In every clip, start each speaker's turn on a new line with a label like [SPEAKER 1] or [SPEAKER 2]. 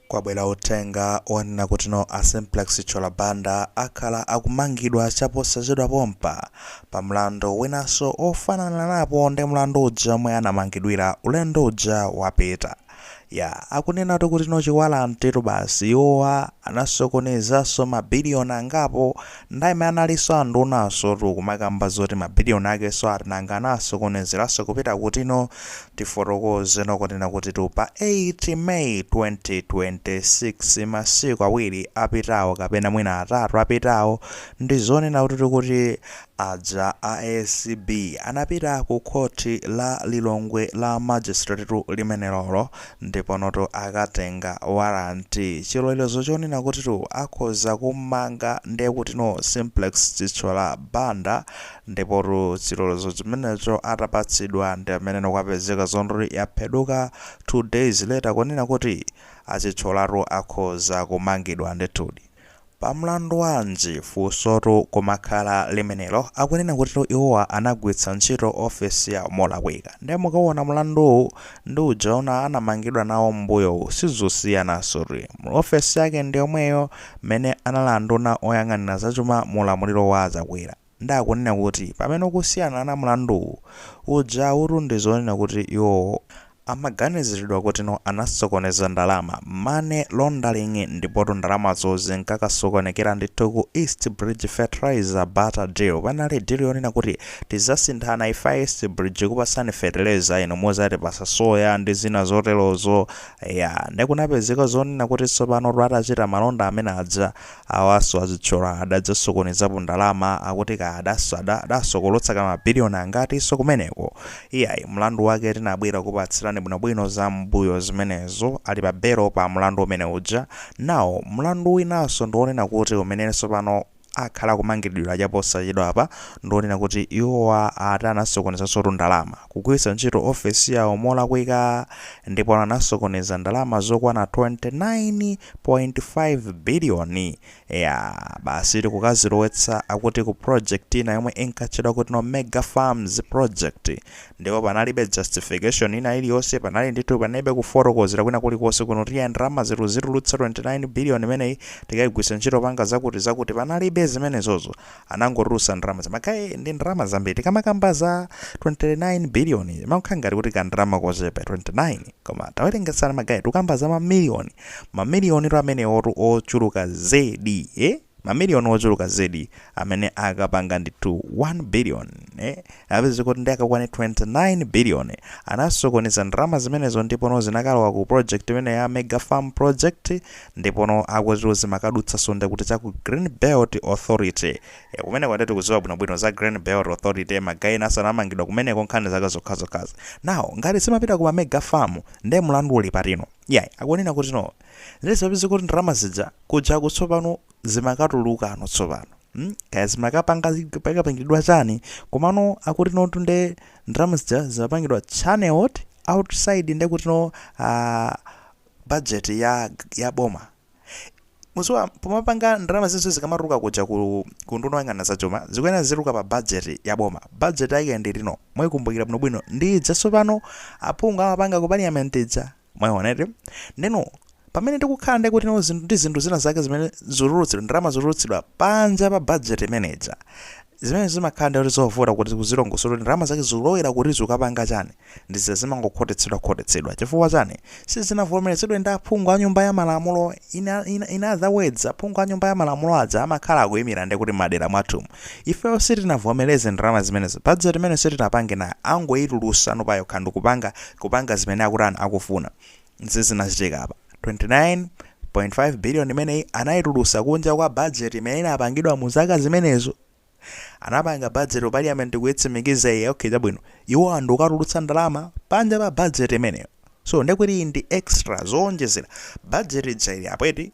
[SPEAKER 1] Kwabwera uthenga onena kutino a Simplex Chithyola Banda akhala akumangidwa chaposachedwa pompa pa mlandu winaso ofanananapo ndi mlandu uja omwe anamangidwira ulendo uja wapita. Yaa akunenatu kutino chiwalantetu basi iwowa anasokonezaso ma billion angapo Nthawi imene analinso ndunasotu kumakamba zoti ma billion akenso ati nanga anawasokonezeranso kupita kutino tifotokozeno kunena kutitu pa 8 May 2026 masiku awiri apitawo kapena mwina atatu apitawo ndi zonena kutitu aja a acb anapita ku khoti la Lilongwe la magistratetu limenelolo Ndiponotu anakatenga warrant, chilolezo chonena kutitu akhoza kummanga ndi kutino Simplex Chithyola Banda, ndipotu chilolezo chimenecho atapatsidwa ndi mmeneno kwapezeka zondori yapheduka 2 days later kunena kuti a Chithyolatu akhoza kumangidwa ndithudi. Pa mlandu wanji? Funsotu kumakhala limenelo. Akunena kutitu iwowa anagwiritsa ntchito ofesi yawo molakwika. Nde mukaona mlanduwu ndi uja wina anamangidwa nawo mmbuyowu sizosiyanansotu. Ofesi yake ndiyomweyo mmene anali nduna oyang'anira zachuma mu ulamuliro wa a Chakwera. Nde akunena kuti pamene ukusiyanana mlanduwu, ujatu ndi zonena kuti iwowo amaganiziridwa kutino anasokoneza ndalama, money laundering, ndipotu ndalamazo zinkakasokonekera ndithu ku East Bridge Fertilizer Barter Deal, panali deal yonena kuti tizasinthana ife a East Bridge kupatsani fetereza inu muzatipatsa soya ndi zina zoterozo, eya nde kunapezeka zonena kuti tsopanotu atachita malonda amene aja, Awaso a Chithyola adadzasokonezapo ndalama akuti kaya adasada adasokolotsa ka ma billion angati so kumeneko iyayi mlandu wake tinabwera kupatsirani bwino bwino za mmbuyo zimenezo ali pa belo pa mlandu umene uja now mlandu winaso ndi onena kuti umeneso pano akhala akumangidwira chaposachedwapa ndi onena kuti iwowa ati anasokonezasotu ndalama kugwiritsa ntchito ofesi yawo molakwika ndipo anasokoneza ndalama zokwana 29.5 biliyoni. Eya, basi ndi kukazilowetsa akuti ku project ina yomwe inkatchedwa kutino Mega Farms Project ndipo panalibe justification ina iliyonse, panali ndithu panalibe kufotokozera kwina kulikonse kuno kuti eya ndalamazi tizitulutsa 29 biliyoni imeneyi tikaigwiritse ntchito popanga zakuti zakuti, panalibe zimenezozo. anangotulusa ndalamazi magaye ndi ndalama zambiri tikamakamba za 29 billion imakhala ngati kuti ka ndalama kochepa 29 koma tawerengetsana magaye tukamba za mamiliyoni mamiliyonitu amenewotu ochuluka zedi eh? mamiliyoni ochuluka zedi amene akapanga ndithu 1 billion eh? apeze kuti ndi akakwane 29 billion anasokoneza ndalama zimenezo ndipono zinakalowa ku project imene ya mega farm project Ndipono akuti zimakadutsanso nde kuti cha ku Green Belt Authority. E, kumeneko nde tikuziwa bwinobwino za Green Belt Authority ma guy enanso anamangidwa kumeneko nkhani zake zokhazokhazi. Now ngati zimapita ku ma mega farm nde mulandu uli patino? Iyayi akunena kuti no nde zimapezeka kuti ndalama zija kujaku tsopano zimakatulukano tsopano mm kaya zimakapanga pakapangidwa chani komano akuti notu nde ndalama zija zimapangidwa channeled outside nde kuti no ah, budget ya ya boma muziwa pomapanga ndalama zinso zikamatuluka kuja ku ku nduna oyang'ana za chuma zikuyenera zituluka pa budget ya boma budget yake ndi lino mwayikumbukira bwinobwino ndi ija tsopano aphungu amapanga ku parliament ija mwayiwona eti ndeno pamene tikukhala ndi kuti no zinthu ndi zinthu zina zake zimene zotulutsidwa ndalama zotulutsidwa panja pa budget imene ija Zimene zimakhala ndiye kuti zovuta kuti uzilongosola kuti ndalama zake zikulowera kuti zikukapanga chani, ndi zija zimangokhotetsedwa khotetsedwa chifukwa chani, sizinavomerezedwe ndi aphungu a nyumba ya malamulo, in in in other words aphungu a nyumba ya malamulo aja amakhala akuyimira ndiye kuti mmadera mwathumu, ifeyo sitinavomereze ndalama zimenezo, budget imeneyo sitinapange nayo, angoyitulusano payokha ndikupanga zimene akutani akufuna. Izi zinachitika apa. 29.5 billion imeneyi anayitulusa kunja kwa budget imene inapangidwa mu zaka zimenezo. Anapanga budget ku parliament kuyitsimikiza iyi okay chabwino. Iwo nkukatulutsa ndalama panja pa budget imeneyo. So ndekuti iyi ndi extra zoonjezera. Budget ija ili apo eti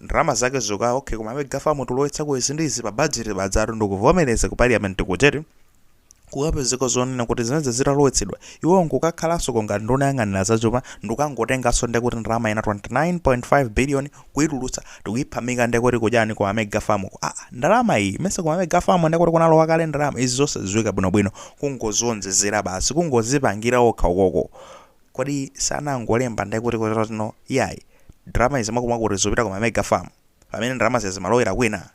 [SPEAKER 1] ndalama zake zuka okay ku ma mega farm tulowetsako izi ndi izi pa budget pajatu ndikuvomereza ku parliament kuja eti. kukapezeka zonena kuti zimenezi zitalowetsedwa iwo nkukakhalansoko ngati nduna yang'anira zachuma ndikukangotenganso ndekuti ndalama ina 29.5 billion kuitulutsa ndikuiphamika ndekuti kujeni ku ma mega farm uko aa ndalama iyi mesa ku ma mega farm ndekuti kunalowa kale ndalama izi zosadziwika bwinobwino kungozionjezera basi kungozipangira okha ukoko kodi sanangolemba ndekuti kuti no yayi ndalama izi mwakuti mwakuti zopita ku ma mega farm pamene ndalamazi zimalowera kwina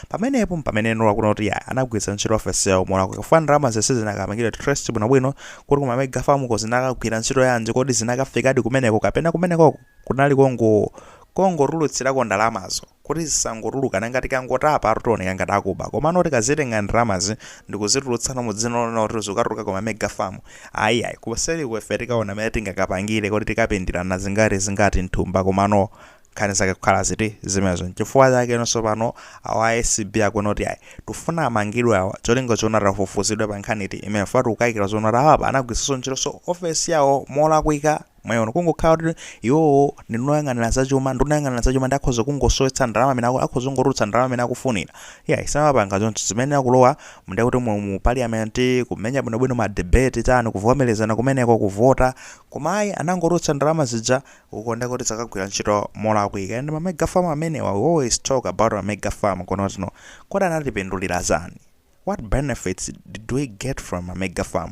[SPEAKER 1] Pamenepo mpameneno akuona kuti ya anagwiritsa ntchito ofesiyo molakwa chifukwa ndalamazi sizinakapangidwe traced bwinobwino kuti ku Mamega farm ko zinakagwira ntchito yanji, kodi zinakafikadi kumeneko kapena kumenekoko kunali kongo kongotulutsirako ndalamazo kuti zizangotuluka, nanga tikangotapatu tioneka ngati akuba komano tikazitenga ndalamazi ndikuzitulutsano mu dzina lonena kuti zukatuluka ku Mamega farm ayi yayi kuseliko ife tikaona mene tingakapangire kodi tikapindirana zingati zingati mthumba komano nkhani zake kukhala ziti zimenezo nchifukwa chake inonso pano awa acb akuona kuti ayi tufuna amangidwe awa cholinga chona tafufuzidwe pa nkhani iti imene ifetu tikukayikira zoona kuti awapa anagwiritsanso ntchitonso ofesi yawo molakwika mwayiona kungokhala kuti iwowo ndi noyang'anira zachuma ndi nduna yoyang'anira zachuma nde akhoza kungosowetsa ndalama amene aku- akhoza kungotulutsa ndalama amene akufunira iyayi samapanga choncho zimenezo kulowa nde kuti mu, mu parliament kumenya bwinobwino ma debate chani kuvomerezana kumeneko kuvota koma ayi anangotulutsa ndalama zija uko nde kuti zakagwira ntchito molakwika and ma mega farm amenewa we always talk about ma mega farm kuno zino kodi anatipindulira chani what benefits did we get from ma mega farm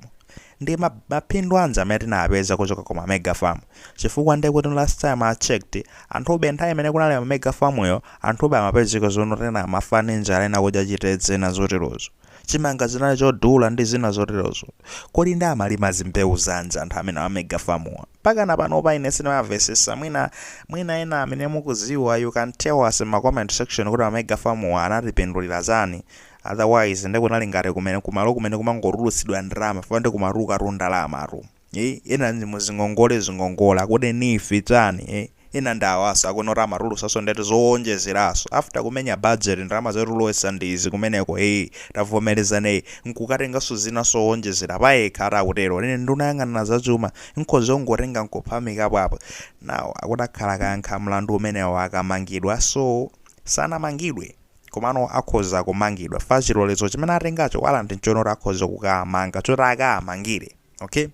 [SPEAKER 1] ndi ma- mapindu anji amene tinapeza kuchoka ku ma mega farm chifukwa nde kuti last time i checked anthube nthawi imene kunali ma mega farm yo anthube amapezeka zoona kuti ena amafa ndi njala ena kudya chitedze ndi zoterozo chimanga zinali chodula ndi zina zoterozo kodi ndi amalima zimbewu zanji anthu amene a mega farm wa mpakana panopa ine sindimamvesesa mwina mwina ena amene mukuziwa you can tell us in ma comment section kuti ma mega farm wa anatipindulira chani otherwise nde kunali ngati kumene kumalo kumene kumangotulutsidwa ndalama fo ndi kumatulukatu ndalamatu eh ena ndi muzingongole zingongole akuti NEEF chani eh Ena ndi awaso akuona kuti amatulusaso ndalama zowonjezeraso after kumenya budget ndalama zoti ulowese ndi izi kumeneko ee tavomelezana ee nkukatengaso zinaso zowonjezera payekha ati akutero ine nduna yoyang'anira za chuma nkhoza kungotenga nkuphamikapo apa now akuti akakhala akayankha mlandu umenewo akamangidwa so sanamangidwe komano akhoza kumangidwa chifukwa chilolezo chimene atengacho warrant nchoona kuti akhoza kukamanga choti akaamangire okay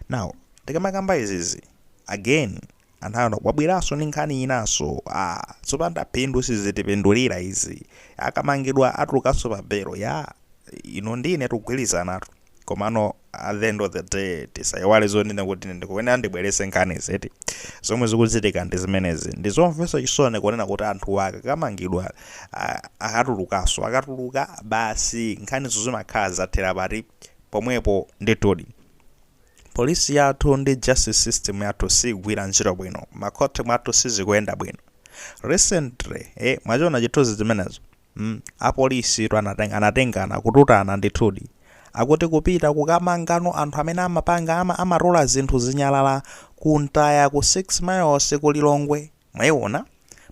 [SPEAKER 1] now tikamakamba izizi again anthu ena wabweraso ndi nkhani inaso ah zopanda phindu sizitipindulira izi akamangidwa atulukaso pa belo ya ino ndine tikugwirizanatu komano at the end of the day tisaiwale zonena kuti ine ndikuyenera ndibwerese nkhani ziti zomwe zikuchitika ndi zimenezi ndi zomvetsa chisoni kunena kuti anthu akakamangidwa ah, akatulukaso akatuluka basi nkhanizo zimakhala zathera pati pomwepo ndithudi Police yathu ndi justice system yathu siigwira ntchito bwino, makhoti mwathu sizikuyenda bwino. Recently eh mwachiona chithuzi chimenecho? mm apolisitu anatenga anatengana kututana ndithudi. Akuti kupita kukamangano anthu amene amapanga ama amatola zinthu zinyalala ku mtaya ku 6 miles ku Lilongwe. Mwaiona?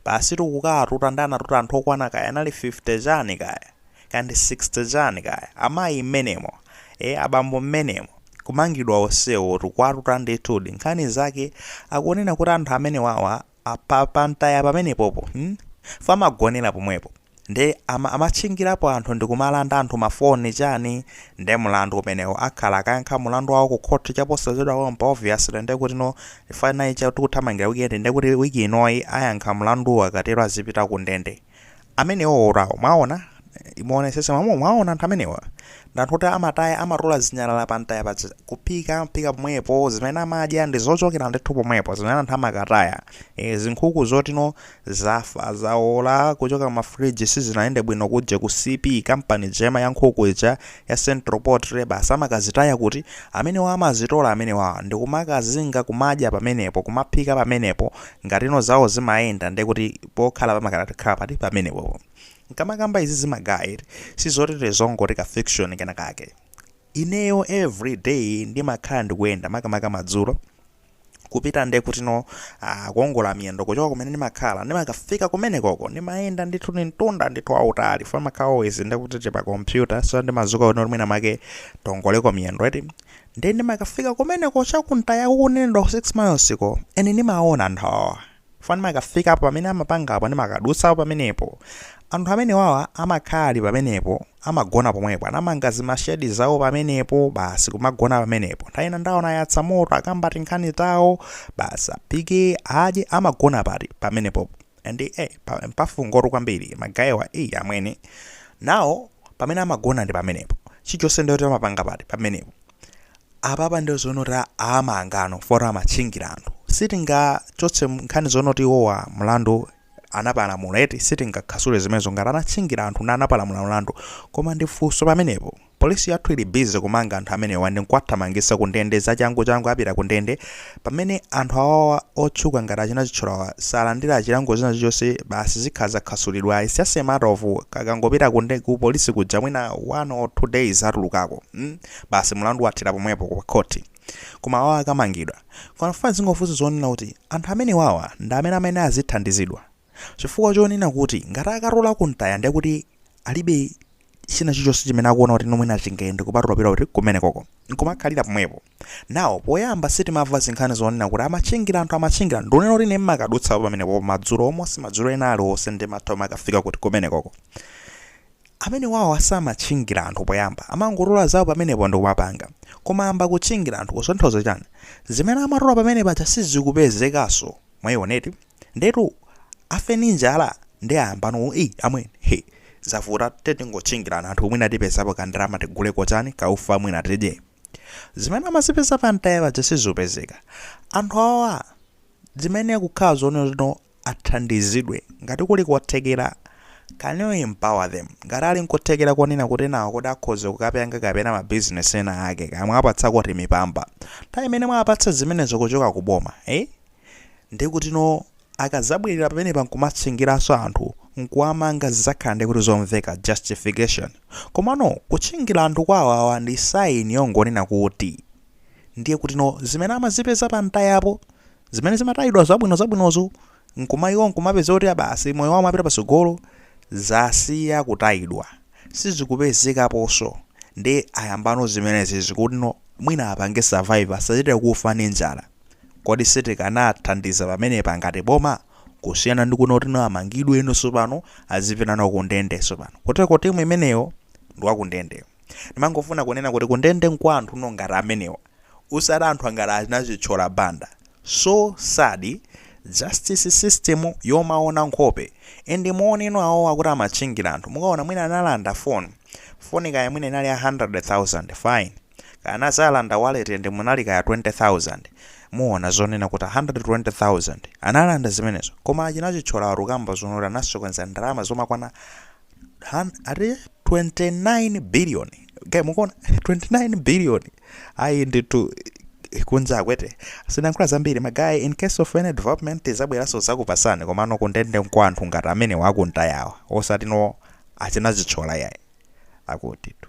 [SPEAKER 1] Basitu kukaatuta nde anatuta anthu okwana kaya anali 50 chani kaya, kaya ndi 60 chani kaya. Amayi mmenemo, eeh abambo mmenemo, kumangidwa onsewotu, kuwatuta ndithudi. Nkhani zake akunena kuti anthu amenewawa apa pa mtaya pamenepopo hmm? Chifukwa amagonera pomwepo. nde ama, amatchingilapo anthu ndikumalanda anthu ma phone chani nde mulandu umenewo akhala akayankha mulandu wawo ku court chaposachedwa pompa obviously ndekuti ino final week ya tikuthamangila weekend ndekuti week inoyi ayankha mulanduwo akatero azipita ku ndende amenewowotu awo mwawona muwonesese mwawona anthu amenewa ndi anthu oti amataya amatola zinyalala pa mtaya paja kuphika amaphika pomwepo zimene amadya ndi zochokera ndithu pomwepo zimene anthu amakataya e, zinkhuku zotino Zafa zawola kuchoka ma fridge sizinayende bwino kuja ku CP company ija ya nkhuku ija ya central poultry basi amakazitaya kuti? Amenewo amazitola amenewawa ndikumakazinga kumadya pamenepo kumaphika pamenepo ngatino zawo zimayenda ndekuti pokhala pamakhala pati pamenepopo nkamakamba izizi magaye sizoti tizongoti ka fiction kenakake ineyo every day ndimakhala ndikuyenda makamaka madzulo kupita nde kutino ah, kuongola miyendo kuchoka kumene ndimakhala ndimakafika kumenekoko ndimayenda ndithu ni mtunda ndithu wautali fo ndimakhala always nde kuti tili pa kompyuta so ndimazuka kuti mwina make tiongoleko miyendo eti nde ndimakafika kumeneko chakuntaya kukunenedwa ku 6 miles ko ene ndimaona nthawawa Chifukwa ndimakafikapo pamene amapangapo, ndimakadutsapo pamenepo. Anthu amenewawa amakhala ali pamenepo, amagona pomwepo, anamanga zima shed zawo pamenepo, basi kumagona pamenepo. Nthawi ina ndaona ayatsa moto, akamba tinkhani tawo, basi aphike, adye, amagona pati? Pamenepopo. And eh, pa, mpafungo kwambiri, magayewa, eh, amwene. Nawo, pamene amagona ndi pamenepo. Chilichonse ndiye kuti amapanga pati? Pamenepo. apapa ndiye zoona kuti amangano foti amatchingira anthu sitingachotse nkhani zonena kuti iwowa mlandu anapalamula eti sitingakhasule zimenezo ngati anatchingira anthu ndiye anapalamula mlandu koma ndifunse pamenepo polisi yathu ili busy kumanga anthu amenewa ndi nkuwathamangisa kundende zachangu changu apita kundende Pamene anthu awawa otchuka ngati achina Chitcholawa salandira chilango china chilichonse basi zikhala za khasulidwa its just a matter of kakangopita ku nde ku police kuja mwina one or two days atulukako mm basi mulandu wathera pomwepo ku khoti koma awawa akamangidwa koma ndifuna ndzingofunsa zonena kuti anthu amenewawa ndi amene amayenera azithandizidwa chifukwa chonena kuti ngati akatola ku ntaya ndiye kuti alibe china chilichonse chimene akuona kuti no mwina chingayende kupatula kupita kuti kumenekoko nkumakhalira pomwepo Now poyamba sitimava zinkhani zonena kuti amatchingila anthu amatchingila ndunena kuti ine mmakadutsa pamenepo madzulo almost madzulo ena aliwonse ndimatha umakafika kuti kumenekoko amene wawo asamatchingila anthu poyamba amangotola zawo pamenepo ndikumapanga koma ayamba kutchingila anthu kusonyeza chani zimene amatola pamene paja sizikupezekaso mwayioneti ndekuti afe ni njala nde ayambano i amwene he zavuta tiyeni tingotchingila anthu mwina tipezapo kandalama tiguleko chani kaufa mwina tidye zimene amazipeza pa mtaya paja sizikupezeka anthu awowa chimene chikanakhala zoona tino athandizidwe ngati kuli kothekera can you empower them ngati ali nkothekera konena kuti nawo kuti akhoze kukapanga kapena mabizinesi ena ake kaya muwapatsako timipamba nthawi imene mwapatsa zimenezo kuchoka ku boma eh? ndi kuti no Akadzabwerera pamenepa nkumatchingiranso anthu nkuwamanga zidzakhala ndiye kuti zomveka, justification. Komano kutchingira anthu kwa awowa ndi sign yongonena kuti ndiye kutino zimene amazipeza pa mtayapo, zimene zimatayidwa zabwino zabwinozo nkumaiwo nkumapeza kuti basi moyo wawo umapita patsogolo, zasiya kutayidwa, sizikupezekaponso ndiye ayambano zimenezizi kutino mwina apange survive asachite kufa ndi njala. Kodi sitikanathandiza pamenepa ngati boma? Kusiyana ndi kuno kuti no amangidwe no sopano azipita no ku ndende sopano. Koteko time imeneyo ndi wa ku ndende. Ndimangofuna kunena kuti ku ndende nkwa anthu no ngati amenewa osati anthu angati achina Chithyola Banda. So sad justice system yomaona nkhope and muone no awowa kuti amatchingira anthu mukaona mwina analanda phone, phone kaya mwina inali ya 100,000 fine. Kaya anadzalanda wallet and munali kaya 20,000 muona zonena kuti 120,000 analanda zimenezo koma achina Chithyola akukamba zonena kuti anasokoneza ndalama zokwana han- ati 29 billion okay, mukuona 29 billion ali nditu kunja akwete sinankhula zambiri magayi in case of any development ndizabweranso ndizakupatsani komano kundende nkwa anthu ngati amenewa akumtayawa osati no achina Chithyola yayi akutitu